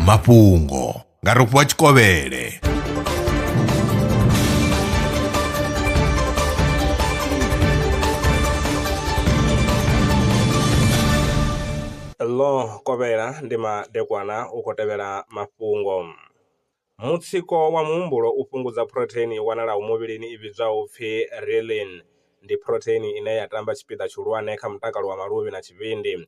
mafhungo nga rofhiwa tshikovhele ḽo kovhela ndi madekwana u khou tevhela mafhungo mutsiko wa muhumbulo u fhungudza phurotheini i wanalaho muvhilini i vhidzwaho upfi renin ndi phurotheini ine ya tamba tshipiḓa tshihulwane kha mutakalo wa maluvhi na tshivhindi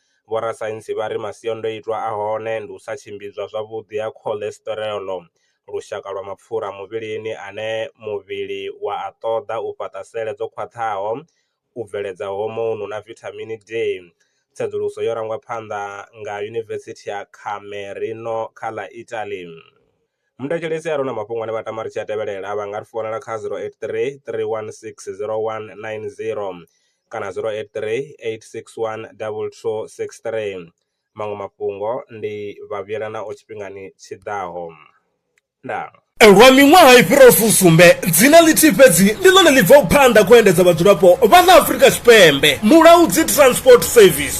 Vhorasaintsi vha ri masiandoitwa a hone ndi u sa tshimbidzwa zwavhuḓi ha cholesterol, lushaka lwa mapfura muvhilini ane muvhili wa a ṱoḓa u fhaṱa sele dzo khwaṱhaho, u bveledza hormone na vithamini D. Tsedzuluso yo rangwa phanḓa nga Yunivesithi ya Camerino kha ḽa Italy. Muthetshelesi a re na mafhungo ane vha tama ri tshi a tevhelela vha nga ri founela kha 083 316 0190 kana 083 861 2263. Maṅwe mafhungo ndi vha vhuyelanaho tshifhingani tshi ḓaho. Ndaa. Lwa miṅwaha i fhiraho fusumbe, dzina ḽithihi fhedzi ndi ḽone ḽi bvaho phanḓa kha u endedza vhadzulapo vha ḽa Afrika Tshipembe, Mulaudzi Transport Service.